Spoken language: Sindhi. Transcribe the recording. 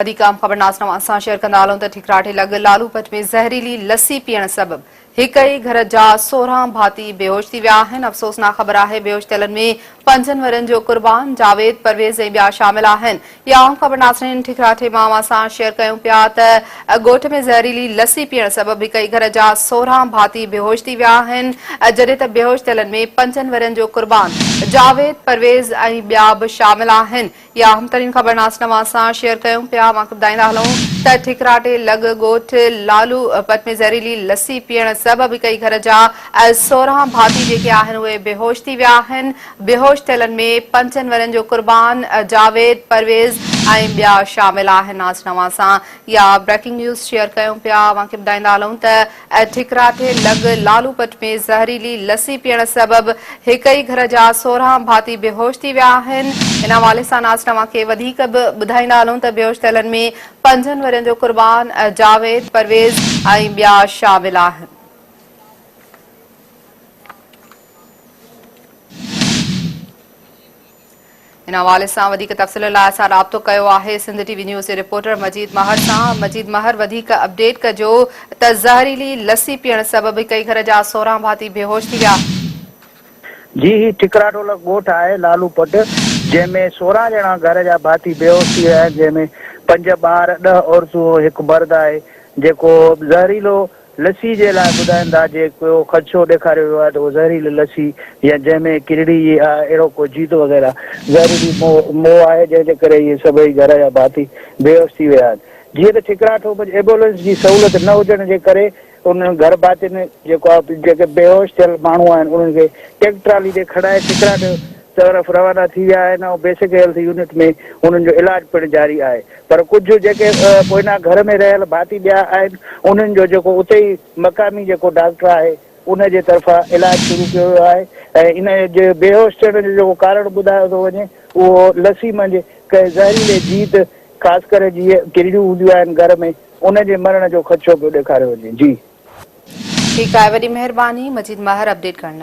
وڌيڪ اهم خبرناس توهان سان شيئر ڪندا هلون ته ٺڪراٺي لڳ لالوپٽ ۾ زهريلي لسي پيئڻ سبب هڪ ئي گهر جا سورهن ڀاتي بيهوش ٿي ويا آهن افسوسناڪ خبر آهي بيهوش ٿيلن ۾ پنجن ورهين جو قربان جاويد پرويز ۽ ٻيا شامل آهن يا اهم خبر ناصرين ٺڪراٺي مان اوهان سان شيئر ڪيون پيا ته ڳوٺ ۾ زهريلي لسي پيئڻ سبب هڪ ئي گهر جا سورهن ڀاتي بيهوش ٿي ويا آهن جڏهن ته بيهوش ٿيلن ۾ پنجن ورهين جو قربان جاويد پرويز ۽ ٻيا به شامل آهن يا اهم ترين خبر ناس نواز سان شيئر ڪيون پيا اوهان کي ٻڌائيندا هلون ته ٺڪراٽي لڳ ڳوٺ لالو پت ۾ زهريلي لسي پيئڻ سبب هڪئي گهر جا سورهان ڀاتي جيڪي آهن اهي بيهوش ٿي ويا آهن بيهوش ٿيلن ۾ پنجن ورهين جو قربان جاويد پرويز ۽ ٻيا شامل آهن ناس نواز سان يا بريڪنگ نيوز شيئر ڪيون پيا اوهان کي ٻڌائيندا هلون ته اهي ٺڪرا ٿي لڳ لالو پٽ ۾ زهريلي لسي پيئڻ سبب هڪ ئي گهر جا سورهان ڀاتي بيهوش ٿي ويا آهن. ان حوالي سان اسان اوهان کي وڌيڪ به ٻڌائيندا هلون ته بيهوش ٿيلن ۾ پنجن ورهين جو قربان، جاويد، پرويز ۽ ٻيا شامل آهن. ان حوالي سان وڌيڪ تفصيل لاء اسان رابطو ڪيو آهي سنڌ ٽي وي نيوز جي رپورٽر مجيد مهر سان مجيد مهر وڌيڪ اپڊيٽ ڪجو ته زهريلي لسي پيئڻ سبب هڪئي گهر جا سورهن ڀاتي بيهوش ٿي ويا. جي هي ٺڪراٽولا ڳوٺ آهي لالو پٽ جنهن ۾ سورهن ڄڻا گهر جا ڀاتي بيهوش ٿي ويا آهن جنهن ۾ پنج ٻار ڏهه عورتون هڪ مرد آهي جيڪو زهريلو لسي جي لاء ٻڌائين ٿا جي ڪو خدشو ڏيکاريو ويو آهي ته اهو زهريلي لسي يا جنهن ۾ ڪرڙي يا اهڙو ڪو جيت وغيره زهريلي موء آهي جنهن جي ڪري اهي سڀئي گهر جا ڀاتي بيهوش ٿي ويا آهن جيئن ته ٺڪراٺ منجهه ايبولنس جي سهولت نه هجڻ جي ڪري انهن گهر ڀاتين جيڪو جيڪي بيهوش ٿيل ماڻهو آهن انهن کي ٽيڪٽرالي تي کڙائي ٺڪراٺ طرف روانا ٿي ويا آهن ۽ بيسڪ هيلٿ يونٽ ۾ انهن جو علاج پڻ جاري آهي پر ڪجهه جيڪي پوئنا گهر ۾ رهيل ڀاتي ٻيا آهن انهن جو جيڪو اتي ئي مقامي جيڪو ڊاڪٽر آهي ان جي طرفان علاج شروع ڪيو ويو آهي ۽ ان جي بيهوش ٿيڻ جو جيڪو ڪارڻ ٻڌايو ٿو وڃي اهو لسي منجهه ڪنهن زهريلي جيت خاص ڪري جي ڪرڙيون هونديون آهن گهر ۾ ان جي مرڻ جو خدشو پيو ڏيکاريو وڃي جي. ٺيڪ آهي وڏي مهرباني مجيد ماهر اپڊيٽ ڪرڻ لاء.